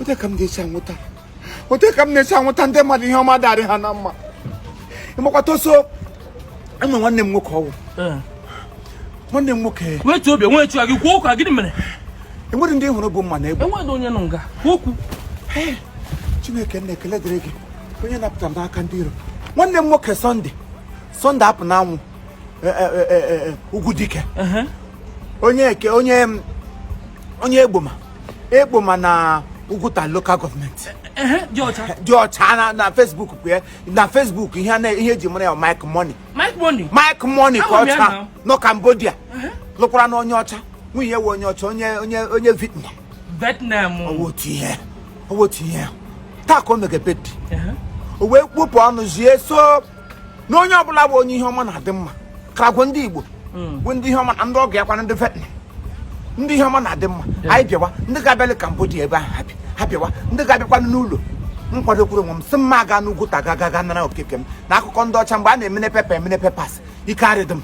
ote ka m ga-esi anwụta ote ka m na-esi anwụta ndị mmadụ ihe ọma darị ha na mma ịmakwata ọsọ enwe nwanne m nwoke ọwụ eh. nwanne m nwoke wetu obi nwe chụa gị kwuo okwu gịnị mere enwere ndị hụrụ bu mma na egbe enwere onye nọ nga kwuo okwu chineke nna ekele dịrị gị onye napụtara m n'aka ndị iro nwanne m nwoke Sunday Sunday apụ n'anwụ e, e, e, ugwu dike onye eke onye onye Egbuoma Egbuoma na Uguta local government dị ọcha na Facebook kwue na Facebook ihe ihe eji mara ya Mike Money Mike Money ka ọcha nọ Cambodia lụkwaranụ onye ọcha nwunye wụ onye ọcha onye onye onye Vietnam Vietnam ọ wụ otu ihe ọ wụ otu ihe taa ka o mege birthday o wee kpọpụ ọnụ zie so na onye ọbụla bụ onye ihe ọma na-adị mma karagwo ndị igbo hmm. bụ ndị ihe ọma na ndị ọgọ ya kwana ndị Vietnam ndị ihe ọma na-adị mma anyị bịawa ndị ga-abịalị Cambodia ebe ahụ ha bịawa ndị ga-abịakwanụ n'ụlọ m kwadokwuru onwe m sị m ma aga n'Uguta ga gaga nara oke nke m na akụkọ ndị ọcha mgbe a na-emene paper emene papers ike arịdị m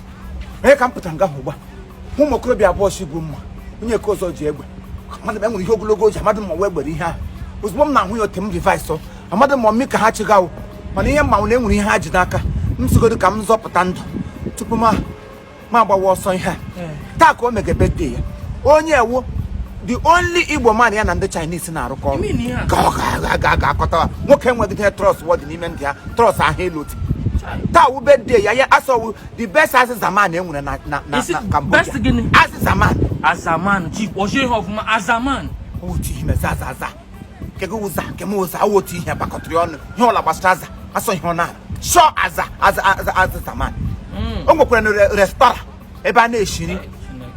onye ka m pụtara nga hụ ugbu a ụmụ okorobịa abụọ si bu mma onye nke ọzọ ji egbe mmadụ enwere ihe ogologo ji amadị m ma ọ wụ egbe ihe ahụ ozugbo m na-ahụ ya ote m reverse amadị m ọ mụ ka ha chịgawo mana ihe m ma wụ na enwere ihe ha ji n'aka m sigodo ka m zọpụta ndụ tupu m ma agbawa ọsọ ihe a taa ka o mege birthday ya onwe ya wụ the only igbo man ya na ndị chinese na-arụkọ ọrụ Ime na ihe a. ka ọ ga- ga- ga-akọta ha. nwoke enweghịdị trustworthy n'ime ndị ha trust ahụ a lot taa wụ birthday ya ya sọ wụ the best azịza man enwere na na na Is it na Cambodia. best gịnị? azịza man azaman chief CEO of azaman otu ihe mezi aza aza kego ụza nke m ụza awụ otu ihe bakọtịrị ọnụ ihe ọla gbasara aza asọ ihe ọ na-arụ sọ aza aza aza aza azaman o nwekwara na re- restaurant ebe a na-eshi nri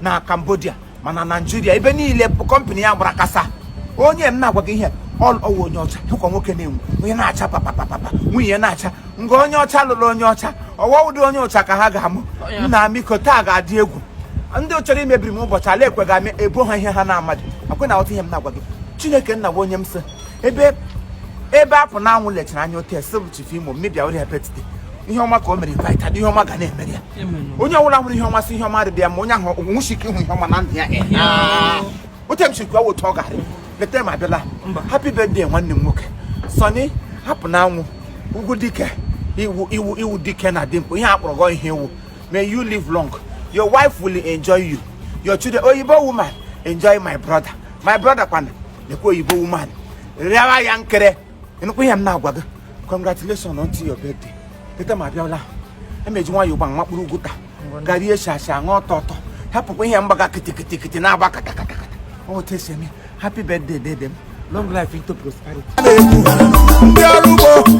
na Cambodia mana Nigeria ebe niile bụ company ya gbara kasa onye m na-agwa gị ihe ọ ọwụ onye ọcha hụkwa nwoke na-enwu onye na-acha papapapapa nwunye ya na-acha nga onye ọcha lụrụ onye ọcha ọ wụdị onye ọcha ka ha ga-amụ nna amiko taa ga-adị egwu ndị chọrọ imebiri m ụbọchị ala ekwe ga-amị ebo ha ihe ha na-amadị akwe na ọtụ ihe m na-agwa gị chineke nna gwa onye m sị ebe ebe apụ na anwụ lechara anya otu esi bụ chief imo mmebia ori hepetiti ihe ọma ka o mere baita ihe ọma ga na-emere ya onye ọbụla hụrụ ihe ọma sị ihe ọma dị ya mma onye ahụ enwechi ike ịhụ ihe ọma na ndụ ya otu m sikwa otu ọ gara later m abịala happy birthday nwanne m nwoke Sunday apụ na anwụ ugwu dike ị wụ ị wụ ị wụ dike na dimkpa ihe a kpọrọ gị ọ ihe ị wụ may you live long your wife will enjoy you your children oyibo woman enjoy my brother my brother kwana lekwa oyibo woman rịawa ya nkere ịnụkwa ihe m na-agwa gị congratulations on your birthday later m abịala emeji nwayọ ụgba nwa kpụrụ Uguta garie shasha ṅụọ ọtọ ọtọ hapụkwa ihe mgbaga kịtịkịtịkịtị na-agba katakata otu esi eme happy birthday dede m long life into prosperity ndị ọrụ ugbo